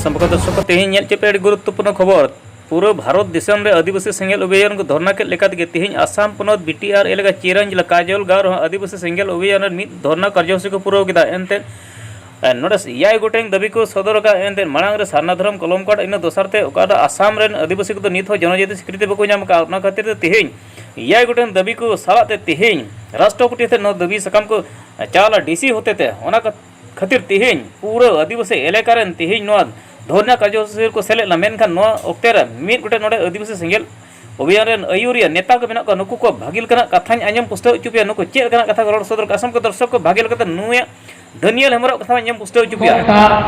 ᱥᱚᱢᱯᱚᱨᱠ ᱫᱚᱨᱥᱚᱠ ᱛᱮᱦᱮᱧ ᱧᱮᱞ ᱪᱮᱯᱮ ᱟᱹᱰᱤ ᱜᱩᱨᱩᱛᱛᱚᱯᱩᱨᱱᱚ ᱠᱷᱚᱵᱚᱨ ᱯᱩᱨᱟᱹ ᱵᱷᱟᱨᱚᱛ ᱫᱤᱥᱚᱢ ᱨᱮ ᱟᱹᱫᱤᱵᱟᱹᱥᱤ ᱥᱮᱸᱜᱮᱞ ᱚᱵᱷᱤᱡᱟᱱ ᱠᱚ ᱫᱷᱚᱨᱱᱟ ᱠᱮᱫ ᱞᱮᱠᱟ ᱛᱮᱜᱮ ᱛᱮᱦᱮᱧ ᱟᱥᱟᱢ ᱯᱚᱱᱚᱛ ᱵᱤᱴᱤᱟᱨ ᱮᱞᱟᱠᱟ ᱪᱤᱨᱟᱱ ᱡᱮᱞᱟ ᱠᱟᱡᱚᱞ ᱜᱟᱶ ᱨᱮᱦᱚᱸ ᱟᱹᱫᱤᱵᱟᱹᱥᱤ ᱥᱮᱸᱜᱮᱞ ᱚᱵᱷᱤᱡᱟᱱ ᱨᱮ ᱢᱤᱫ ᱫᱷᱚᱨᱱᱟ ᱠᱟᱨᱡᱚᱥᱩᱪᱤ ᱠᱚ ᱯᱩᱨᱟᱹᱣ ᱠᱮᱫᱟ ᱮᱱᱛᱮ ᱱᱚᱸᱰᱮ ᱮᱭᱟᱭ ᱜᱚᱴᱮᱱ ᱫᱟᱹᱵᱤ ᱠᱚ ᱥᱚᱫᱚᱨ ᱟᱠᱟᱫᱼᱟ ᱮᱱᱛᱮ ᱢᱟᱲᱟᱝ ᱨᱮ ᱥᱟᱨᱱᱟ ᱫᱷᱚᱨᱚᱢ ᱠᱚᱞᱚᱢ ᱠᱟᱨᱰ ᱤᱱᱟᱹ ᱫᱚᱥᱟᱨ ᱛᱮ ᱚᱠᱟᱴᱟᱜ ᱟᱥᱟᱢ ᱨᱮᱱ ᱟᱹᱫᱤᱵᱟᱹᱥᱤ ᱠᱚᱫᱚ ᱱᱤᱛ ᱦᱚᱸ ᱡᱚᱱᱚᱡᱟᱹᱛᱤ ᱥᱤᱠᱨᱤᱛᱤ ᱵᱟᱠᱚ ᱧᱟᱢ ᱟᱠᱟᱫᱼᱟ ᱚᱱᱟ ᱠᱷᱟᱹᱛᱤᱨ ᱛᱮ ᱛᱮᱦᱮᱧ ᱮᱭᱟᱭ ᱜᱚᱴᱮᱱ ᱫᱟᱹᱵᱤ ᱠᱚ ᱥᱟᱞᱟᱜ ᱛᱮ ᱛᱮᱦᱮᱧ ᱨᱟᱥᱴᱨᱚᱯᱚᱛᱤ ᱴᱷᱮᱱ ᱱᱚᱣᱟ ᱫᱟᱹᱵᱤ ᱥᱟᱠᱟᱢ ᱠᱚ ᱪᱟᱞ ᱟᱨ ᱰᱤᱥᱤ ᱦᱚᱛᱮ ᱛᱮ ᱚᱱᱟ ᱠᱷᱟᱹᱛᱤᱨ ᱛᱮᱦᱮᱧ ᱯᱩᱨᱟᱹ ᱟᱹᱫᱤᱵᱟᱹᱥᱤ ᱮᱞᱟᱠᱟ ᱨᱮᱱ ᱛᱮᱦᱮᱧ ᱱᱚᱣᱟ ᱫᱷᱚᱨᱱᱟ ᱠᱟᱨᱡᱚᱥᱩᱪᱤ ᱨᱮᱠᱚ ᱥᱮᱞᱮᱫ ᱞᱮᱱᱟ ᱢᱮᱱᱠᱷᱟᱱ ᱱᱚᱣᱟ ᱚᱠᱛᱮ ᱨᱮ ᱢᱤᱫ ᱜᱚᱴᱮᱱ ᱱᱚᱸᱰᱮ ᱟᱹᱫᱤᱵᱟᱹᱥᱤ ᱥᱮᱸᱜᱮᱞ ᱚᱵᱷᱤᱭᱟᱱ ᱨᱮᱱ ᱟᱹᱭᱩᱨᱤᱭᱟᱹ ᱱᱮᱛᱟ ᱠᱚ ᱢᱮᱱᱟᱜ ᱠᱚᱣᱟ ᱱᱩᱠᱩ ᱠᱚᱣᱟᱜ ᱵᱷᱟᱹᱜᱤ ᱞᱮᱠᱟᱱᱟᱜ ᱠᱟᱛᱷᱟᱧ ᱟᱸᱡᱚᱢ ᱯᱩᱥᱴᱟᱹᱣ ᱦᱚᱪᱚ ᱯᱮᱭᱟ ᱱᱩᱠᱩ ᱪᱮᱫ ᱞᱮᱠᱟᱱᱟᱜ ᱠᱟᱛᱷᱟ ᱠᱚ ᱨᱚᱲ ᱥᱚᱫᱚᱨ ᱠᱟᱜᱼᱟ ᱥᱟᱱᱟᱢ ᱠᱚ ᱫᱚᱨᱥᱚᱠ ᱠᱚ ᱵᱷᱟᱹᱜᱤ ᱞᱮᱠᱟᱛᱮ ᱱᱩᱭᱟᱜ ᱫᱟᱹᱱᱤᱭᱟᱞ ᱦᱮᱢᱵᱨᱚᱢ ᱠᱟᱛᱷᱟ ᱟᱸᱡᱚᱢ ᱯᱩᱥᱴᱟᱹᱣ ᱦᱚᱪᱚ ᱯᱮᱭᱟ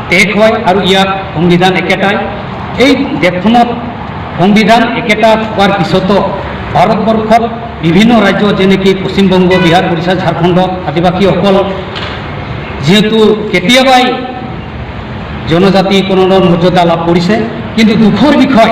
ᱛᱮᱠᱚᱭ ᱟᱨ ᱤᱭᱟ ᱚᱝᱵᱤᱫᱷᱟᱱ ᱮᱠᱮᱴᱟᱭ ᱮᱭ ᱫᱮᱯᱷᱱᱚᱛ ᱚᱝᱵᱤᱫᱷᱟᱱ ᱮᱠᱮᱴᱟ ᱯᱟᱨ ᱠᱤᱥᱚᱛᱚ ᱵᱷᱟᱨᱚᱛ ᱵᱚᱨᱠᱷ ᱵᱤᱵᱷᱤᱱᱱᱚ ᱨᱟᱡᱽᱡᱚ ᱡᱮᱱᱮᱠᱤ ᱯᱚᱥᱪᱤᱢ ᱵᱚᱝᱜᱚ ᱵᱤᱦᱟᱨ ᱩᱲᱤᱥᱥᱟ ᱡᱷᱟᱲᱠᱷᱚᱸᱰ ᱟᱹᱫᱤᱵᱟᱹᱥᱤ ᱦᱚᱠᱚᱞ ᱡᱮᱦᱮᱛᱩ ᱠᱮᱴᱤᱭᱟᱵᱟᱭ ᱡᱚᱱᱚᱡᱟᱛᱤ ᱠᱚᱱᱚ ᱢᱚᱨᱡᱟᱫᱟ ᱞᱟᱵᱷ ᱠᱚᱨᱤᱥᱮ ᱠᱤᱱᱛᱩ ᱫᱩᱠᱷᱚᱨ ᱵᱤᱠᱷᱚᱭ